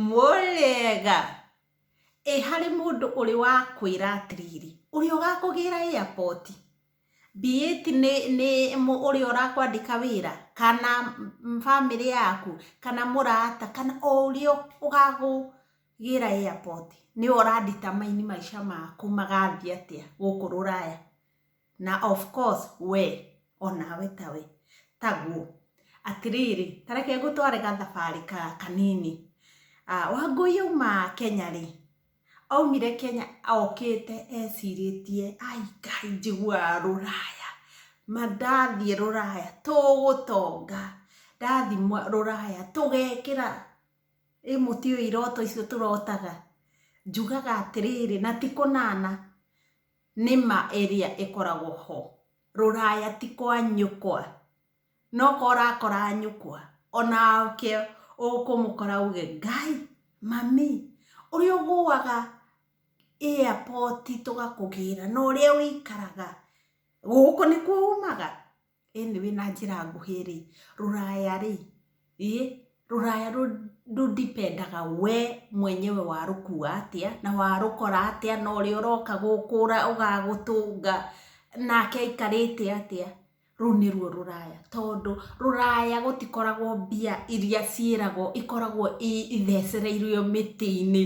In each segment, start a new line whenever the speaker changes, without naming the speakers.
Mũrĩega. Ĩ harĩ mũndũ ũrĩ wa kwĩra atĩrĩrĩ, ũrĩa ũgakũgĩra airport, be it nĩ nĩ ũrĩa ũrakwandĩka wĩra, kana bamĩrĩ yaku, kana mũrata, kana o ũrĩa ũgakũgĩra airport, nĩwe ũra determine maica maku magathiĩ atĩa gũkũ rũraya? Na of course wee o nawe tawe taguo. Atĩrĩrĩ, ta reke ngũtware gathabarĩ kanini. Wangũi auma Kenya rĩ, aumire Kenya okĩte ecirĩtie ai Ngai njiguaga rũraya, ma ndathiĩ rũraya tũgũtonga, ndathiĩ rũraya tũgekĩra, ĩ mũtiũĩ iroto icio tũrotaga? Njugaga atĩrĩrĩ, na ti kũnana. Nĩ ma area ĩkoragwo ho. Rũraya ti kwa nyũkwa. No ko ũrakora nyũkwa. O nake ũkũmũkora auge, Ngai, mami, ũrĩa ũgũaga airport tũgakũgĩra na ũrĩa ũikaraga, gũkũ nĩkuo umaga? ĩnĩ wĩ na njĩra nguhĩ rĩ, rũraya rĩ, rũraya rũdipendaga wee mwenyewe warũkua atĩa, na warũkora atĩa, na ũrĩa ũroka gũkũra ũgagũtũnga, nake aikarĩte atĩa, rũu nĩruo rũraya. Tondũ rũraya gũtikoragwo mbia iria ciĩragwo, ikoragwo ithecereirwo mĩtĩ-inĩ,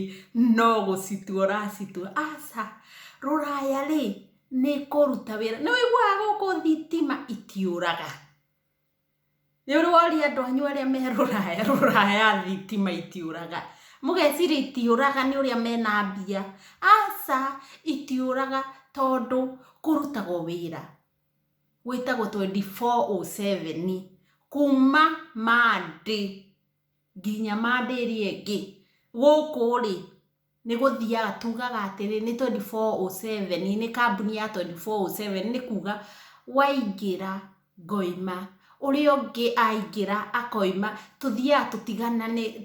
no gũcitua ũracitua. Aca, rũraya rĩ, nĩ kũruta wĩra nĩ wĩiguaga gũkũ thitima itiũraga nĩ ũrĩ woria andũ anyu arĩa me rũraya rũraya thitima itiũraga mũgeciria itiũraga nĩ ũrĩa mena mbia aca itiũraga tondũ kũrutagwo wĩra gwĩtagwo twenty four o seven kuma monday nginya monday ĩrĩa ĩngĩ gũkũ rĩ. Nĩ gũthiaga tugaga atĩrĩ nĩ twenty four o seven, nĩ kambuni ya twenty four o seven, nĩ kuuga waingĩra ngoima, ũrĩa ũngĩ aingĩra akoima, tũthiaga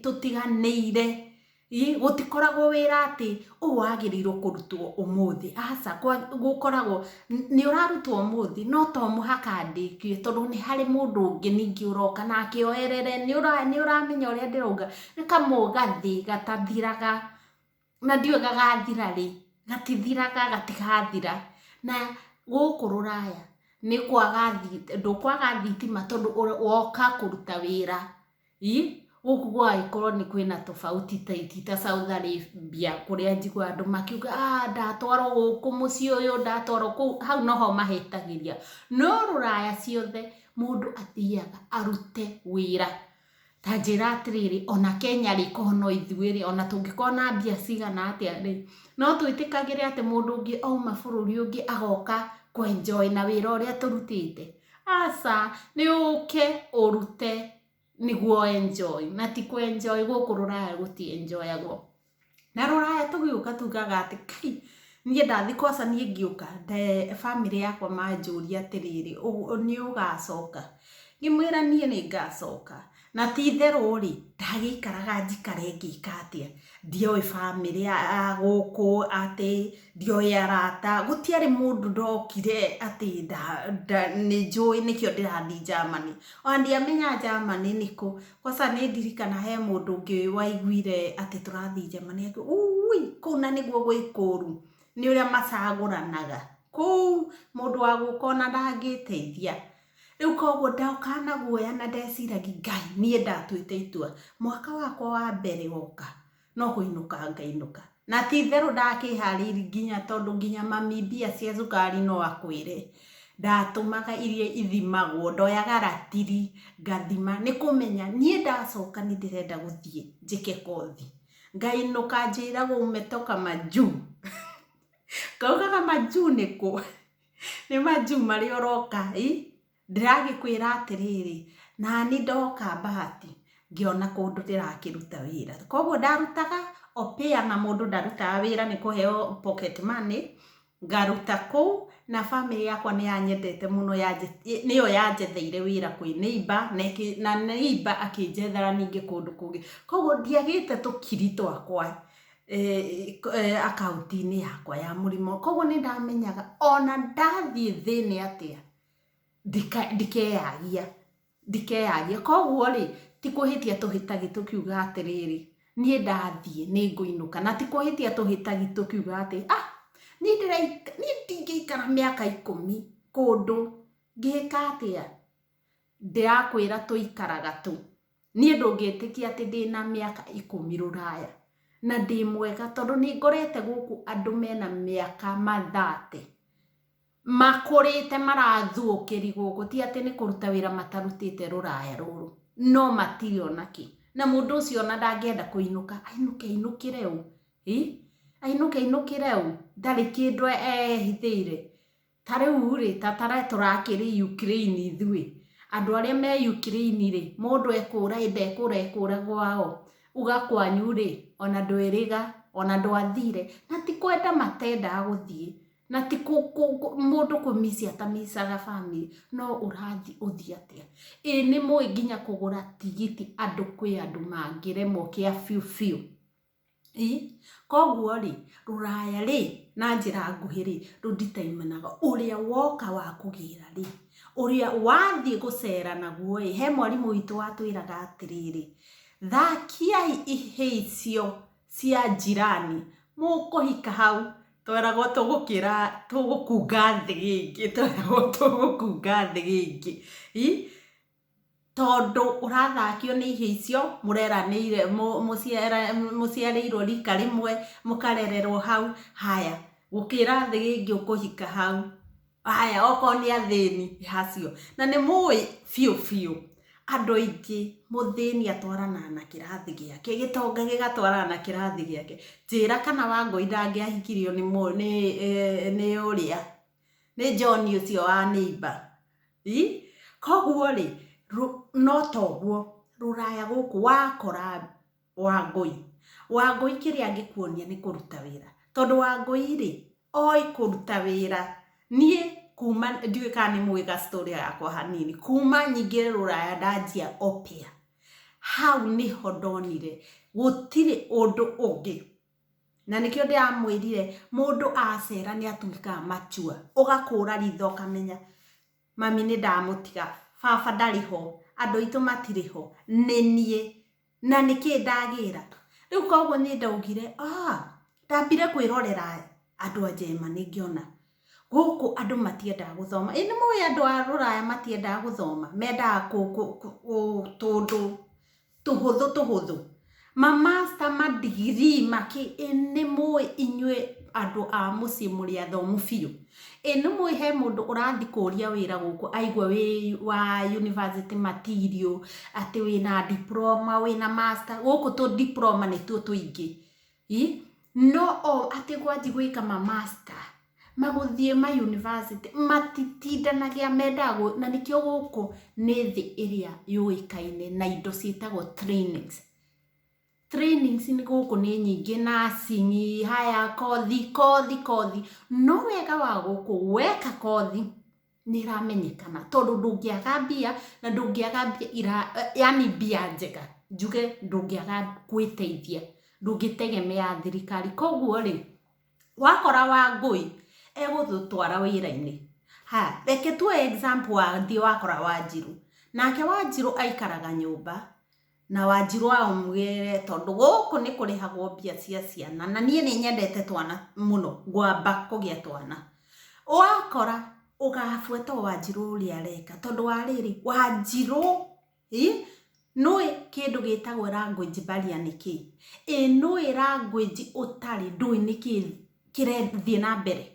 tũtiganĩire. Gũtikoragwo wĩra atĩ ũyũ wagĩrĩirwo kũrutwo ũmũthĩ, aca, gũkoragwo nĩ ũrarutwo ũmũthĩ no to mũhaka ndĩkie tondũ nĩ harĩ mũndũ ũngĩ ningĩ ũroka nake oerere, nĩ ũramenya ũrĩa ndĩrauga, nĩ kamũgathĩ gatathiraga, na ndiũĩ gagathira rĩ, gatithiraga gatigathira, na gũkũ rũraya nĩ kwaga ndũkwaga thitima tondũ woka kũruta wĩra Ii, Gũkũ gũgagĩkorwo nĩ kwĩna tofauti ta ti ta Saudi Arabia kũrĩa njiguaga andũ makiuga ah ndatwarwo gũkũ mũciĩ ũyũ, ndatwarwo kũu, hau noho mahĩtagĩria. No rũraya ciothe mũndũ athiaga arute wĩra. Ta njĩra atĩrĩrĩ, ona Kenya rĩ, korwo no ithuĩ rĩ, ona tũngĩkorwo na mbia cigana atĩa rĩ, no twĩtĩkagĩre atĩ mũndũ ũngĩ auma bũrũri ũngĩ agoka kũ enjoy na wĩra ũrĩa tũrutĩte? Aca nĩ ũke ũrute nĩguo enjoy na ti kũ enjoy gũkũ rũraya gũti enjoyagwo na rũraya tũgĩũka tugaga atĩ kai niĩ ndathiĩ kwanza niĩ ngĩũka bamĩrĩ yakwa manjũria atĩrĩrĩ nĩ ũgacoka ngĩmwĩra niĩ nĩ ngacoka Na ti itherũ-rĩ, ndagĩikaraga njikare ngĩka atĩa, ndioĩ bamĩrĩ ya gũkũ, atĩ ndioĩ arata, gũtiarĩ mũndũ ndokire atĩ nĩ njũĩ nĩkĩo ndĩrathiĩ Germany. Ona ndiamenya Germany nĩ kũ. Kwanza nĩ ndirikanaga he mũndũ ũngĩ waiguire atĩ tũrathiĩ Germany akiuga, Uuwii, kũu na nĩguo gwĩ kũũru, nĩ ũrĩa macagũranaga. Kũu mũndũ wa gũka ona ndangĩteithia. Rĩu koguo ndoka na guoya na ndeciragia Ngai niĩ ndatuĩte itua mwaka wakwa wa mbere woka no kũinũka ngainũka. Na ti itherũ ndakĩharĩirie nginya tondũ nginya mami mbia cia cukari no akwĩre ndatũmaga iria ithimagwo ndoyaga ratiri ngathima nĩ kũmenya niĩ ndacoka nĩ ndĩrenda gũthiĩ njĩke kothi. Ngainũka njĩragwo umetoka majuu. Ngauga majuu nĩ kũ? nĩ manjuu marĩa ũroka ĩ ndĩragĩkwĩra atĩrĩrĩ nani ndoka bahati ngĩona kũndũ ndĩrakĩruta wĩra kwoguo ndarutaga opĩa na mũndũ ndarutaga wĩra nĩ kũheo pocket money ngaruta kũu na bamĩrĩ yakwa nĩ yanyendete mũno nĩyo yanjetheire wĩra kwĩ neiba na neiba akĩnjethera ningĩ kũndũ kũngĩ kwoguo ndiagĩte tũkiri twakwa. eh, eh, akaunti-inĩ yakwa ya mũrimo koguo nĩ ndamenyaga ona ndathiĩ thĩnĩ atĩa ndika- ndikeyagia ndikeyagia koguo rĩ ti kũhĩtia tũhĩtagi tũkiuga atĩrĩrĩ niĩ ndathiĩ nĩ ngũinũka na ti kũhĩtia tũhĩtagi tũkiuga atĩ ah niĩ ndĩraika- niĩ ndingĩikara mĩaka ikũmi kũndũ ngĩka atĩa ndĩrakwĩra tũikaraga tũ Niĩ ndũngĩtĩkia atĩ ndĩna mĩaka ikũmi rũraya na ndĩ mwega tondũ nĩ ngorete gũkũ andũ mena mĩaka ma thate makũrĩte marathũkĩri gũkũ ti atĩ nĩ kũruta wĩra matarutĩte rũraya rũrũ no matirĩ ona kĩ. Na mũndũ ũcio ona ndangĩenda kũinũka ainũke ainũkĩre ũũ? Ainũke ainũkĩre ũũ? Ndarĩ kĩndũ ehithĩire? Ta rĩu-rĩ, ta ta reke tũrakĩrĩ Ukraine ithuĩ, andũ arĩa me Ukraine-rĩ, mũndũ ekũũra ĩndĩ ekũũra ekũũra gwao, uga kwanyu-rĩ, o na ndwĩrĩga, o na ndwathire, na ti kwenda matendaga gũthiĩ, na ti mũndũ kũ miss ata miss aga family, no ũrathiĩ ũthiĩ atĩa? Ĩ nĩmũĩ nginya kũgũra tigiti andũ kwĩ andũ mangĩremwo kĩa biũ biũ? Ĩĩ, koguo rĩ, rũraya rĩ, na njĩra nguhĩ rĩ, rũ determine aga ũrĩa woka wa kũgĩra rĩ, ũrĩa wathiĩ gũcera naguo ĩ, he mwarimũ witũ watwĩraga atĩrĩrĩ, thakiai ihĩĩ icio cia njirani, mũkũhika hau, tweragwo tũgũkĩra tũgũkunga thĩ ĩngĩ, tweragwo tũgũkunga thĩ ĩngĩ. tondũ ũrathakio nĩ ihĩĩ icio, mũreranĩire mũciarĩirwo rika rĩmwe, mũkarererwo hau, haya gũkĩra thĩ ĩngĩ ũkũhika hau, haya okorwo nĩ athĩni nĩ acio. Na nĩ mũĩ biũ biũ andũ aingĩ mũthĩni atwaranaga na kĩrathi gĩake, gĩtonga gĩgatwarana na kĩrathi gĩake. Njĩra kana Wangũi ndangĩahikirio nĩ ũrĩa. nĩ John ũcio wa nĩimba koguo rĩ no toguo rũraya gũkũ wakora wangũi wangũi kĩrĩa angĩkuonia nĩ kũruta wĩra tondũ wangũi rĩ oĩ kũruta wĩra niĩ kuma ndiũĩ kana nĩ mũĩ ga story gakwa hanini kuma nyingĩ rũraya ndanjia opia hau nĩho ndonire gũtirĩ ũndũ ũngĩ Na nĩkĩo ndĩramwĩrire mũndũ acera nĩ atuĩkaga mature. Ũgakũra ritho ũkamenya mami nĩ ndamũtiga, baba ndarĩ ho, andũ aitũ matirĩ ho, nĩ niĩ. Na nĩkĩ ndagĩra. Rĩu kwoguo niĩ ndaugire aah ndambire kwĩrorera andũ a Germany ngĩona gũkũ andũ matiendaga gũthoma. Ĩĩ nĩ mũĩ andũ a rũraya matiendaga gũthoma? Mendaga tũũndũ. tũhũthũ tũhũthũ. Ma master ma degree ma kĩ, ĩ nĩmũĩ inyuĩ andũ a mũciĩ mũrĩ athomu biũ? Ĩ nĩmũĩ he mũndũ ũrathi kũria wĩra gũkũ aigua wĩ wa university material, atĩ wĩna diploma, wĩna master, gũkũ tũ diploma nĩtuo tũingĩ. Ĩ no o atĩ gwanjia gwĩka ma master magũthiĩ ma university matitindanagia mendaga na nĩkĩo gũkũ nĩ thĩ ĩrĩa yũĩkaine na indo ciĩtagwo trainings. Trainings gũkũ nĩ nyingĩ nursing haya kothi kothi kothi no wega wa gũkũ weka kothi... nĩ ĩramenyekana tondũ ndũngĩaga mbia na ndũngĩaga mbia ira yaani mbia njega njuge ndũngĩaga gwĩteithia, ndũngĩtegemea thirikari. Koguo rĩ, wakora Wangũi egũgũtwara wĩra-inĩ, haya reke tuoe example wathiĩ wakora Wanjirũ, nake Wanjirũ aikaraga nyũmba, na wanjirũ amwĩre tondũ gũkũ nĩ kũrĩhagwo mbia cia ciana na niĩ nĩ nyendete twana mũno ngwamba kũgĩa twana. Ũgakora ũgabuata o wanjirũ ũrĩa areka tondũ wa rĩrĩ, wanjirũ ĩ nĩũĩ kĩndũ gĩtagwo language barrier nĩ kĩĩ? Ĩ nĩũĩ language ũtarĩ ndũĩ nĩkĩĩ kĩrathiĩ na mbere?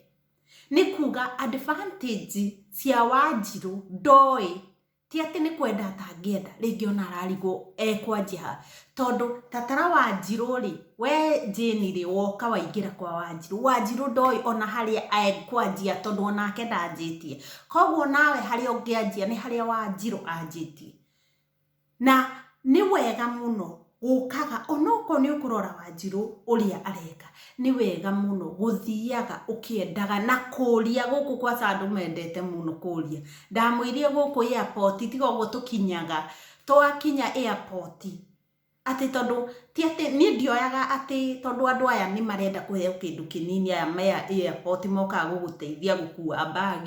Nĩ kuga advantage cia wanjirũ ndoĩ. ti atĩ nĩ kwenda atangĩenda rĩngĩ ona ararigwo ekwanjia ha tondũ tatara wanjirũ rĩ we jane rĩ woka waingĩra kwa wanjirũ wanjirũ ndoĩ ona harĩa ekwanjia tondũ onake ndanjĩtie koguo nawe harĩa ũngĩanjia nĩ harĩa wanjirũ anjĩtie na nĩ wega mũno ũkaga onokorwo nĩ ũkũrora wanjirũ ũrĩa areka nĩ wega mũno gũthiaga ũkĩendaga na kũria gũkũ kwa sandũ mendete mũno kũria ndamwĩrire gũkũ airport tiga ũguo tũkinyaga twakinya airport atĩ tondũ ti atĩ niĩ ndioyaga atĩ tondũ andũ aya nĩ marenda kũheo kĩndũ kĩnini aya me airport mokaga gũgũteithia gũkua bag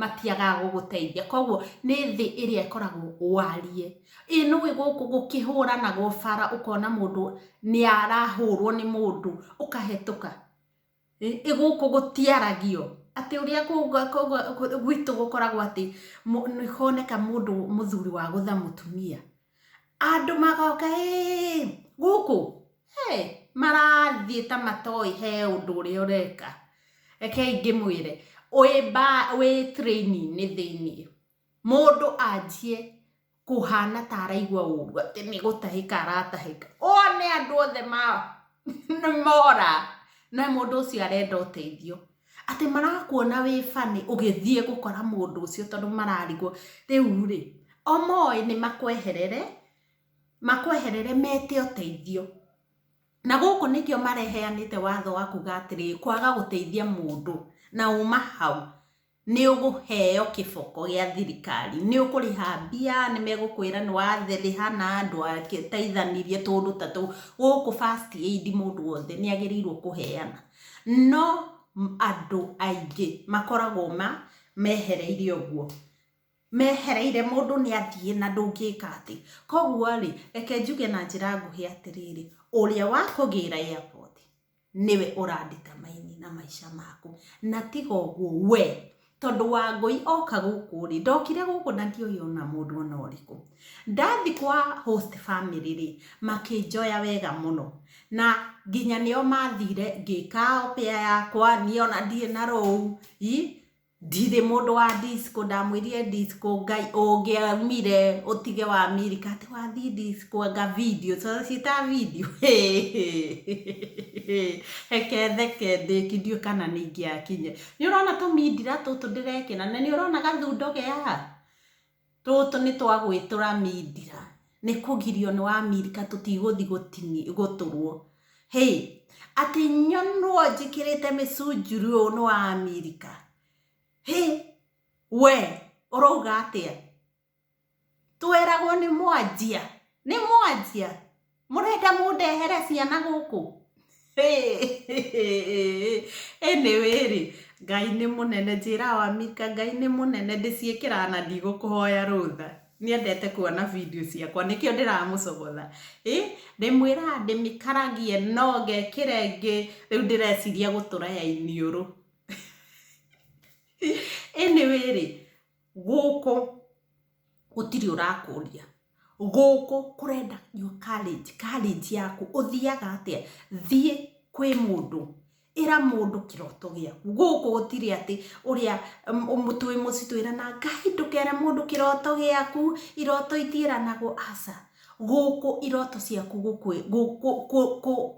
matiagaga gũgũteithia koguo nĩ thĩ ĩrĩa ĩkoragwo wariĩ ĩ nũĩ gũkũ gũkĩhũranagwo bara ũkona mũndũ nĩ arahũrwo nĩ mũndũ ũkahetũka ĩ gũkũ gũtiaragio atĩ ũrĩa gwitũ gũkoragwo atĩ nĩhoneka mũthuri wa gũtha mũtumia Andũ magoka ĩĩ gũkũ hey, marathiĩ ta matoĩ he ũndũ ũrĩa ũreka rekei ngĩmwĩre wĩ ba- wĩ train-inĩ thĩinĩ mũndũ anjie kũhana ta araigua ũru atĩ nĩ gũtahĩka aratahĩka one andũ othe ma nĩ mora na mũndũ ũcio arenda ũteithio Atĩ marakuona wĩ funny ũgĩthiĩ gũkora mũndũ ũcio tondũ mararigwo. Rĩu-rĩ, o moĩ nĩ makweherere, makweherere mete ũteithio. Na gũkũ nĩkĩo mareheanĩte watho wa kuga atĩrĩrĩ, kwaga gũteithia mũndũ na uma hau nĩ ũgũheo kĩboko gĩa thirikari. Nĩ ũkũrĩha mbia, nĩ megũkwĩra nĩ warĩha na ndwateithanirie, tũũndũ ta tũu. Gũkũ first aid mũndũ wothe nĩ agĩrĩirwo kũheana. No andũ aingĩ makoragwo ma mehereire ũguo, mehereire mũndũ nĩ athiĩ na ndũngĩka atĩ. Koguo rĩ, reke njuge na njĩra nguhĩ atĩrĩrĩ, ũrĩa wakũgĩra airport nĩwe ũra determine na maica maku, na tiga ũguo we tondũ Wangũi oka gũkũ rĩ, ndokire gũkũ na ndioĩ ona mũndũ ona ũrĩkũ. Ndathi kwa host family rĩ, makĩnjoya wega mũno. Na nginya nĩo mathire ngĩka opear yakwa, niĩ ona ndirĩ na rũu, i, ndirĩ mũndũ wa disco, ndamwĩrire disco, Ngai ũngĩaumire ũtige wa America atĩ wathi disco anga video, tondũ ciĩtaga video, hĩhĩhĩ, reke theke ndĩki ndiũĩ kana nĩ ingĩakinyire. Nĩ ũrona tũmindira tũtũ ndĩrekĩra na nĩ ũrona gathundo ge haha? Tũtũ nĩ twa gwĩtũra mindira, nĩ kũgirio nĩ wamirika tũtigũthi gũtũrwo. Hĩ! Atĩ nyonwo njĩkĩrĩte mĩcunjuri ũũ nĩ wamirika? Hĩ! We ũrauga atĩa? Tweragwo nĩ mwanjia nĩ mwanjia mũrenda mũndehere ciana gũkũ anyway rĩ Ngai nĩ mũnene njĩra wa mika Ngai nĩ mũnene ndĩciĩkĩraga na ndigũkũhoya rũtha nĩendete kuona video ciakwa nĩkĩo ndĩramũcogotha ĩ ndĩmwĩraga ndĩmĩkaragie no ngekĩra ĩngĩ rĩu ndĩreciria gũtũra ya iniũrũ anyway rĩ Gũkũ gũtirĩ ũrakũria, gũkũ kũrenda your courage, courage yaku, ũthiaga atĩa? Thiĩ kwĩ mũndũ, ĩra mũndũ kĩroto gĩaku, gũkũ gũtirĩ atĩ ũrĩa twĩ mũciĩ twĩranaga Ngai ndũkere mũndũ kĩroto gĩaku, iroto itiĩranagwo aca, gũkũ iroto ciaku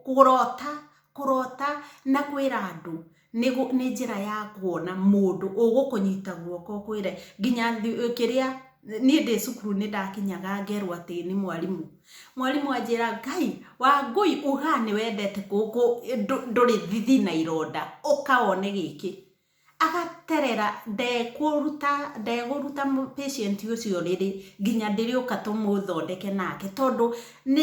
kũrota, kũrota na kwĩra andũ. nĩ nĩ njĩra ya kuona mũndũ ũgũkũnyita guoko ũkwĩre nginya kĩrĩa niĩ ndĩ cukuru nĩ ndakinyaga ngerwo atĩ nĩ mwarimũ mwarimũ anjĩra Ngai Wangũi uga nĩ wendete kũkũ ndũrĩ thithi na ironda ũka wone gĩkĩ agaterera ndekũruta ndegũruta patient ũcio rĩrĩ nginya ndĩrĩũka tũmũthondeke nake tondũ nĩ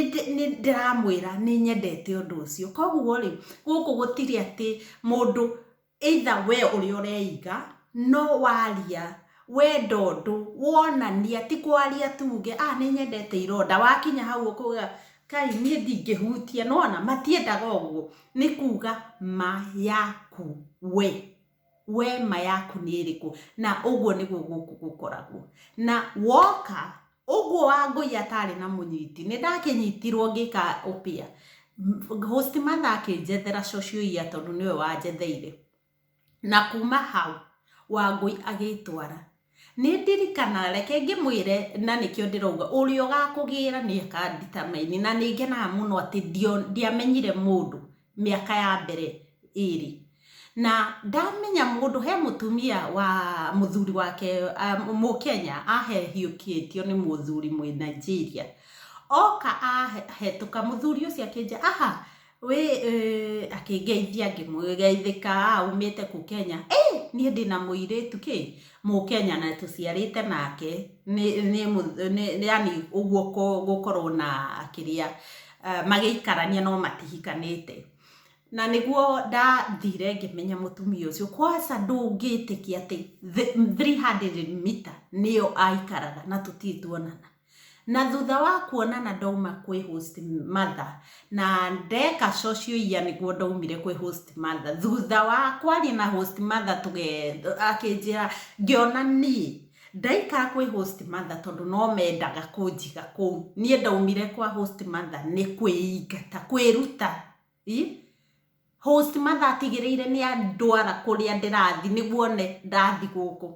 ndĩramwĩra nĩ nyendete ũndũ ũcio koguo rĩ gũkũ gũtirĩ atĩ mũndũ either we ũrĩa ũreiga no waria wenda ũndũ wonania ti kwaria tuge a nĩ nyendete ironda wakinya hau ũkuga kai niĩ ndingĩhutia nona matiendaga ũguo nĩ kuga ma yaku we we ma yaku nĩ ĩrĩkũ na ũguo nĩguo gũkũ gũkoragwo na woka ũguo wa ngũi atarĩ na mũnyiti nĩ ndakĩnyitirwo ngĩka ũpĩa host mother akĩnjethera cocioia tondũ nĩwe wanjetheire na kuma hau wangũi agĩtwara Nĩ ndirikana, reke ngĩmwĩre, na nĩkĩo ndĩrauga, ũrĩa ũgakũgĩra nĩ aka determine. Na nĩ ngenaga mũno atĩ ndiamenyire mũndũ mĩaka ya mbere ĩrĩ. Na ndamenya mũndũ, he mũtumia wa mũthuri wake Mũkenya ahehiũkĩtio nĩ mũthuri Mũnaijeria. Oka ahetũka, mũthuri ũcio akĩnjĩra, aha, Wĩ ĩ, akĩngeithia ngĩmũgeithĩka aumĩte kũu Kenya. Ĩ, niĩ ndĩ na mũirĩtu kĩ, Mũkenya na tũciarĩte nake, nĩ, nĩ, nĩ, nĩ yani ũguo kũ, gũkorwo na kĩrĩa, magĩikarania no matihikanĩte. Na nĩguo ndathire ngĩmenya mũtumia ũcio, kwaca ndũngĩtĩkia atĩ three hundred meter nĩyo aikaraga na tũtirĩ tuonana. Na thutha wa kuonana ndauma kwĩ host mother na ndeka socioia nĩguo ndaumire kwĩ host mother thutha wa kwaria na host mother tũge akĩnjĩra ngĩona niĩ ndaikara kwĩ host mother tondũ no mendaga kũnjiga kũu niĩ ndaumire kwa host mother nĩ kwĩingata kwĩruta host mother atigĩrĩire nĩ andwara kũrĩa ndĩrathi nĩguo one ndathi gũkũ.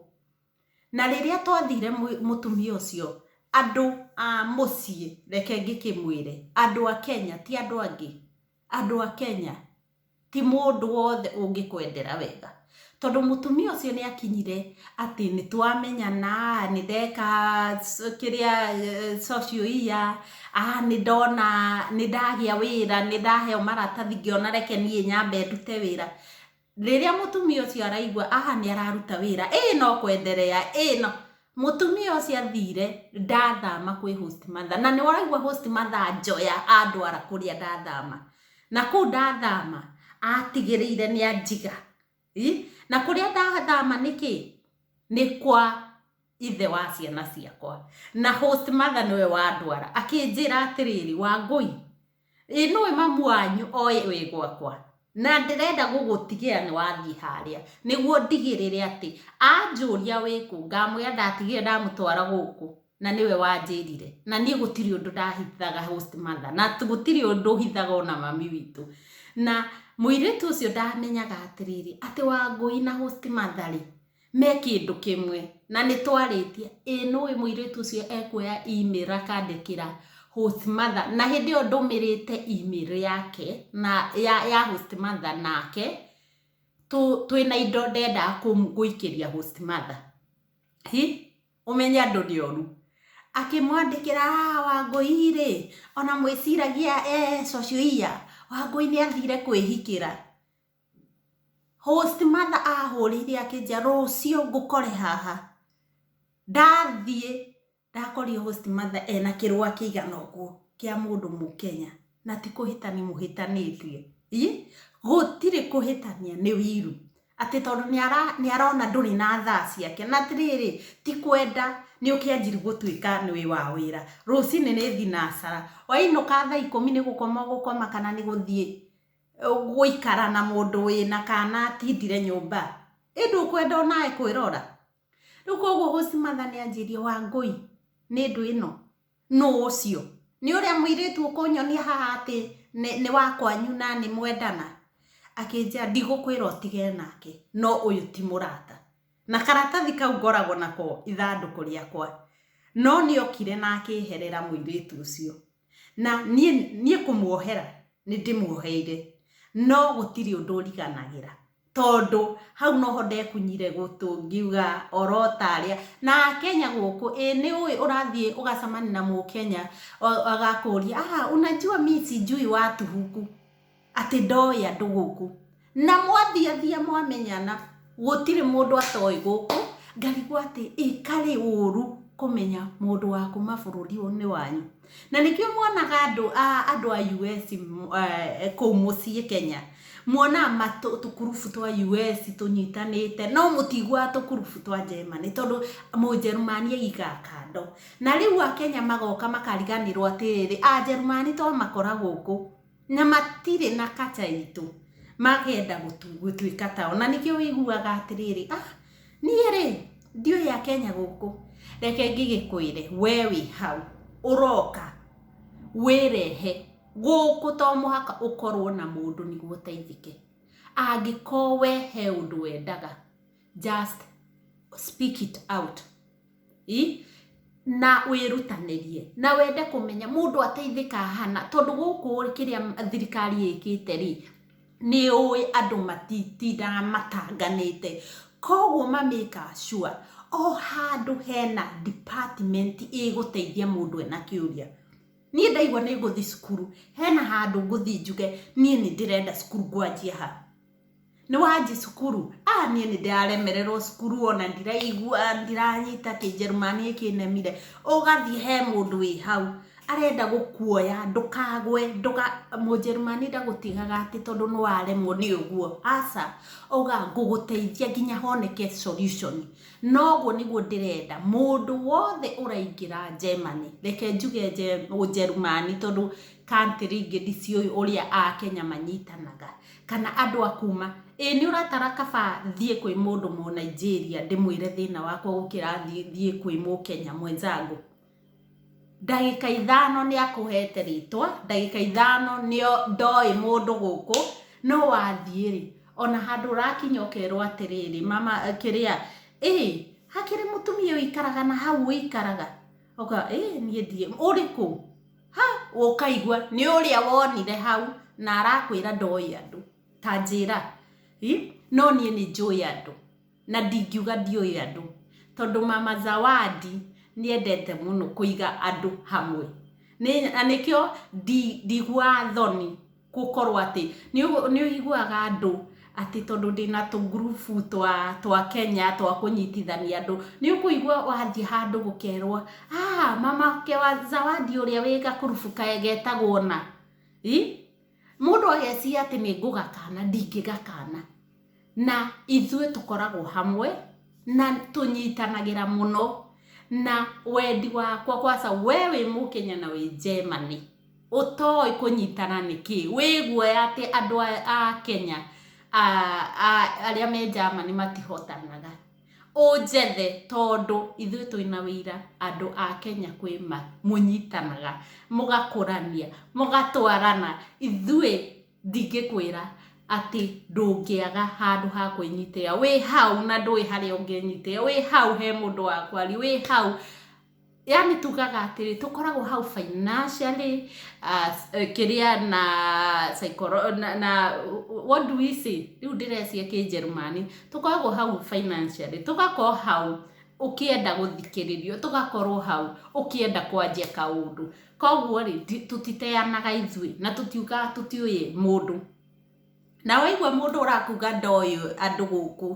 na rĩrĩa twathire mũtumia ũcio andũ a mũciĩ reke ngĩkĩmwĩre andũ a kenya ti andũ angĩ andũ a kenya ti mũndũ wothe ũngĩkwendera wega tondũ mũtumia ũcio nĩ akinyire atĩ nĩ twamenyana nĩ ndeka kĩrĩa socio iya nĩ ndona nĩ ndagĩa wĩra nĩ ndaheo maratathi ngĩona reke niĩ nyambe ndute wĩra. Rĩrĩa mũtumia ũcio araigua aha nĩ araruta wĩra ĩĩ no kwenderea ĩĩ no mũtumia ũcio athire ndathama kwĩ host mother na nĩ waraigua host mother njoya andwara kũrĩa ndathama na kũu ndathama atigĩrĩire nĩ anjiga na kũrĩa ndathama nĩkĩ nĩ kwa ithe wa ciana ciakwa na host mother nĩwe wandwara akĩnjĩra atĩrĩrĩ wangũi ĩ nũĩ mamu wanyu oĩ wĩ gwakwa na ndĩrenda gũgũtigĩra nĩ wathiĩ harĩa nĩguo ndigĩrĩre atĩ anjũria wĩkũ ngamwĩra ndatigire ndamũtwara gũkũ na nĩwe wanjĩrire na niĩ gũtirĩ ũndũ ndahithaga host mother na t- gũtirĩ ũndũ hithaga ona mami witũ na mũirĩtu ũcio ndamenyaga atĩrĩrĩ atĩ wangũi na host mother rĩ me kĩndũ kĩmwe na nĩ twarĩtie ĩ nũĩ mũirĩtu ũcio ekuoya email akandĩkĩra host mother na hĩndĩ ĩyo ndũmĩrĩte email yake na ya, ya host mother nake tũ, twĩna indo ndenda kũm- gũikĩria host mother hi ũmenye andũ nĩ oru akĩmwandĩkĩra "Ah, wangũi rĩ ona mwĩciragia eh, cocio iya wangũi nĩ athire kwĩhikĩra Host mother ahũrĩire akĩnjia rũciũ ngũkore haha. Ndathiĩ ndakorire host mother ena kĩrũa kĩigana ũguo kĩa mũndũ mũkenya na ti kũhĩtania mũhĩtanĩtie. Ii, gũtirĩ kũhĩtania nĩ wiru. Atĩ tondũ nĩ arona ndũrĩ na thaa ciake. Na atĩrĩrĩ, ti kwenda nĩ ũkĩanjiri gũtuĩka nĩ wĩ wa wĩra. Rũcinĩ nĩ thinacara. Wainũka thaa ikũmi nĩ gũkoma ũgũkoma kana nĩ gũthiĩ gũikara na mũndũ wĩna kana atindire nyũmba ĩ ndũkwenda onawe kwĩrora rĩu koguo Hũsni Matha nĩanjĩrie Wangũi nĩ ndũ ĩno nũ ũcio nĩ ũrĩa mũirĩtu ũkũnyonia haha atĩ nĩ wa kwanyu na nĩ mwendana akĩnjĩra ndigũkwĩra ũtige nake no ũyũ ti mũrata na karatathi kau ngoragwo nako ithandũkũ rĩakwa no nĩokire na akĩherera mũirĩtu ũcio. Na niĩ, niĩ kũmuohera nĩ ndĩmuoheire, no gũtirĩ ũndũ ũriganagĩra. Tondũ hau noho ndekunyire gũtũ ngiuga oro ta arĩa, na Akenya gũkũ, ĩĩ nĩ ũĩ ũrathiĩ ũgacemania na Mũkenya agakũria, aah, unajua mimi sijui watu huku. atĩ ndoĩ andũ gũkũ, na mwathiathia mwamenyana gũtirĩ mũndũ atoĩ gũkũ, ngarigwo atĩ ĩ karĩ ũru kũmenya mũndũ wa kuma bũrũri-inĩ wanyu? Na nĩkĩo mwonaga andũ a US kũu mũciĩ Kenya, mwonaga tũkurubu twa US tũnyitanĩte, no mũtiiguaga tũkurubu twa Germany tondũ Mũnjerumani aigaga kando. Na rĩu Akenya magoka makariganĩrwo atĩrĩrĩ, Anjerumani twamakora gũkũ. Na matirĩ na kaca itũ makenda gũtuĩka tao. Na nĩkĩo wĩiguaga atĩrĩrĩ, ah, niĩ rĩ, ndiũĩ a Kenya gũkũ, reke ngĩgĩkwĩre, we wĩ hau, ũroka, wĩrehe, gũkũ to mũhaka ũkorwo na mũndũ nĩguo ũteithĩke. Angĩkorwo we he ũndũ wendaga. just speak it out i na wĩrutanĩrie na wende kũmenya mũndũ ateithĩka hana tondũ gũkũ kĩrĩa thirikari ĩkĩte rĩ nĩ ũĩ andũ matitindaga matanganĩte koguo ma make sure o handũ hena department ĩgũteithia mũndũ ena kĩũria niĩ ndaigua nĩ ngũthiĩ cukuru hena handũ ngũthiĩ njuge niĩ nĩ ndĩrenda cukuru ngwanjia ha. nĩ wanjĩ cukuru ah niĩ nĩ ndĩraremererwo cukuru ona ndiraigua ndiranyita kĩnjerumani nĩ kĩnemire ũgathiĩ he mũndũ wĩ hau arenda gũkuoya ndũkagwe ndũka mũnjerumani ndagũtigaga atĩ tondũ nĩ waremwo nĩ ũguo aca auga ngũgũteithia nginya honeke solution na ũguo nĩguo ndĩrenda mũndũ wothe ũraingĩra Germany reke njuge ũnjerumani tondũ country ingĩ ndiciũĩ ũrĩa akenya manyitanaga. kana andũ a kuuma, ĩĩ nĩ ũratara kaba thiĩ kwĩ mũndũ mũnaijeria ndĩmwĩre thĩna wakwa gũkĩra thiĩ kwĩ mũkenya mwenzangu? Ndagĩka ithano nĩ akũhete rĩtwa, ndagĩka ithano ndoĩ mũndũ gũkũ, no wathiĩ rĩ, ona handũ ũrakinya ũkerwo atĩrĩrĩ, mama kĩrĩa, ĩĩ hakĩrĩ mũtumia ũikaraga na hau ũikaraga? Ũkauga ĩĩ niĩ ndiũĩ. Ũrĩ kũ? Ha! Ũkaigua, nĩ ũrĩa wonire hau na arakwĩra ndoĩ andũ. Ta njĩra. Ĩ! No niĩ nĩ njũĩ andũ. Na ndingiuga ndiũĩ andũ. Tondũ mama Zawadi nĩ endete mũno kũiga andũ hamwe. Na nĩkĩo ndiguaga thoni gũkorwo atĩ nĩ ũiguaga andũ atĩ tondũ ndĩna tũngurubu twa Kenya twa kũnyitithania andũ, nĩ ũkũigua wathiĩ handũ gũkerwo aah mama wake wa Zawadi ũrĩa wĩ gakurubu getagwo ũna, mũndũ ageciria atĩ nĩ ngũgakana ndingĩgakana. na ithuĩ tũkoragwo hamwe na tũnyitanagĩra mũno na wendi wakwa kwaca we wĩ mũkenya na wĩ Germany ũtoĩ kũnyitana nĩ kĩĩ? Wĩ guoya atĩ andũ a Kenya arĩa me Germany matihotanaga? Ũnjethe tondũ ithuĩ twĩna ũira andũ a Kenya kwĩ ma mũnyitanaga, mũgakũrania, mũgatwarana, ithuĩ Ndingĩkwĩra atĩ ndũngĩaga handũ ha kwĩnyitĩrĩra. Wĩ hau na ndũĩ harĩa ũngĩnyitĩrĩra. Wĩ hau he mũndũ wa kwaria, wĩ hau. Yaani tugaga atĩrĩ, tũkoragwo hau financially, kĩrĩa na na what do we say? Rĩu ndĩrecia kĩnjerumani. Tũkoragwo hau financially, tũgakorwo hau ũkĩenda gũthikĩrĩrio, tũgakorwo hau ũkĩenda kwanjia kaũndũ. Kwoguo-rĩ, tũtiteanaga ithuĩ, na tũtiugaga tũtiũĩ mũndũ. Na waigua mũndũ ũrakuga ndoĩ andũ gũkũ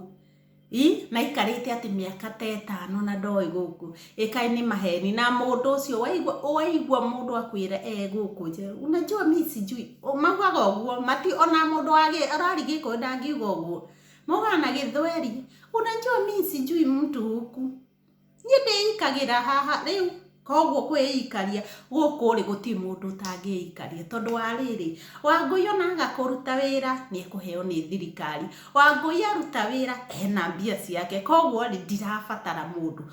i, na aikarĩte atĩ mĩaka ta ĩtano na ndoĩ gũkũ, ĩ kaĩ nĩ maheni? Na mũndũ ũcio waigua, waigua mũndũ akwĩra e gũkũ nja, unajua mi sijui, maugaga ũguo, mati, o na mũndũ wa gĩ, ũrari Gĩkũyũ ndangiuga ũguo. Maugaga na Gĩthweri, unajua mi sijui mtu huku. Niĩ ndĩikagĩra haha rĩu, koguo kwĩikaria gũkũ rĩ gũtirĩ mũndũ ũtangĩikaria tondũ wa rĩrĩ, Wangũi ona aga kũruta wĩra nĩ ekũheo nĩ thirikari. Wangũi aruta wĩra ena mbia ciake koguo rĩ ndirabatara mũndũ.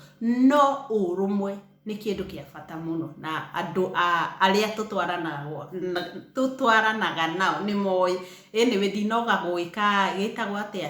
No ũrũmwe nĩ kĩndũ gĩa bata mũno na andũ arĩa tũtwaranaga nao nĩ moĩ. Anyway ndinoga gũgĩka gĩtagwo atĩa?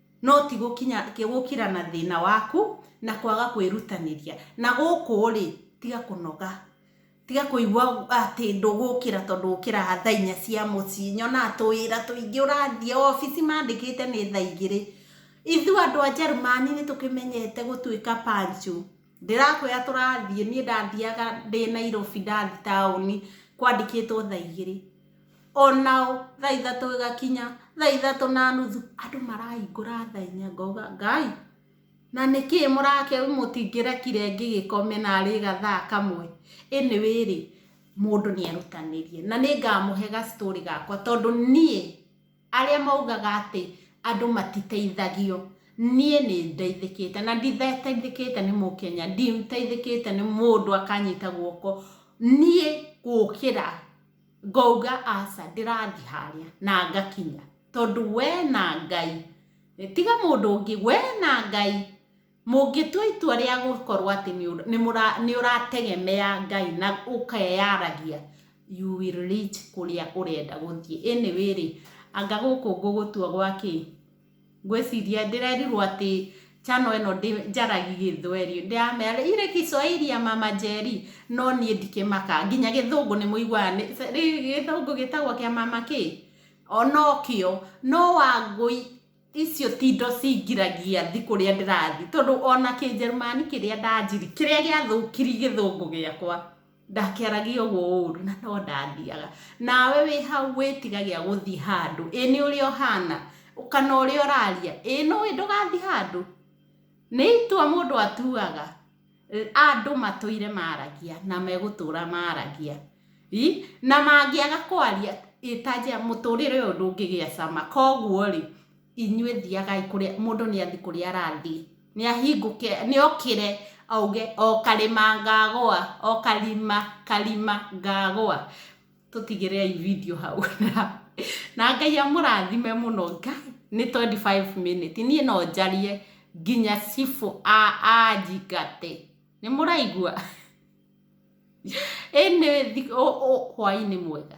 no ti gũkira na thĩna waku na kwaga kwĩrutanĩria. Na gũkũ rĩ, tiga kũnoga, tiga kũigua atĩ ndũgũkĩra tondũ ũkĩraga thaa inya cia mũciĩ. Nyonaga tũwĩra tũingĩ ũrathiĩ obici mandĩkĩte nĩ thaa igĩrĩ. Ithuĩ andũ a Njerumani nĩ tũkĩmenyete gũtuĩka punctual. Ndĩrakwĩra tũrathiĩ, niĩ ndathiaga ndĩ Nairobi ndathi taũni kwandĩkĩtwo thaa igĩrĩ, onao thaa ithatũ ĩgakinya, thaa ithatũ na nuthu, andũ marahingũra thaa inya, ngauga Ngai, na nĩkĩ mũrake mũtingĩrekire ngĩgĩkome narĩ gathaa kamwe? Anyway rĩ, mũndũ nĩ erutanĩrie na nĩngamũhe ga story gakwa tondũ niĩ... Arĩa maugaga atĩ andũ matiteithagio, niĩ nĩ ndeithĩkĩte na nditeithĩkĩte nĩ Mũkenya, nditeithĩkĩte nĩ mũndũ akanyita guoko, niĩ gũkĩra ngauga aca ndĩrathiĩ harĩa na ngakinya tondũ we na Ngai, tiga mũndũ ũngĩ, we na Ngai. Mũngĩtua itua rĩa gũkorwo atĩ nĩ ũrategemea Ngai na ũkeyaragia, you will reach kũrĩa ũrenda gũthiĩ. Anyway rĩ, anga gũkũ ngũgũtua gwa kĩĩ? Ngwĩciria ndĩrerirwo atĩ channel ĩno ndĩnjaragia gĩthweri. Ndĩramera rĩ, ile Kiswahili ya mama Njeri, no niĩ ndikĩmaka. Nginya gĩthũngũ nĩ mũiguaga, gĩthũngũ gĩtagwo kĩa mama kĩĩ? O nokĩo. No Wangũi, Icio ti indo cingiragia thi kũrĩa ndĩrathi tondũ o na Kĩnjerumani kĩrĩa ndanjiri, kĩrĩa gĩathũkiri Gĩthũngũ gĩakwa, ndakĩaragia ũguo ũũru na no ndathiaga. Nawe wĩ hau wĩtigagia gũthi handũ, ĩ nĩ ũrĩa ũhana, kana ũrĩa ũraria, ĩ nĩũĩ ndũgathi handũ? Nĩ itua mũndũ atuaga. Andũ matũire maragia na megũtũra maragia. Ii, na mangĩaga kwaria ĩ ta njĩra mũtũrĩre ũyũ ndũngĩgĩa cama. Koguo rĩ, inyuĩ thiagai kũrĩa mũndũ nĩ athiĩ kũrĩa arathiĩ. Nĩ ahingũke, nĩ okĩre auge o karĩma ngagũa, o karima karima ngagũa. tũtigĩre ai video hau na ngai amũrathime mũno ngai nĩ 25 minute niĩ no njarie nginya cibũ anjingate nĩ mũraigua ĩnĩ hwainĩ mwega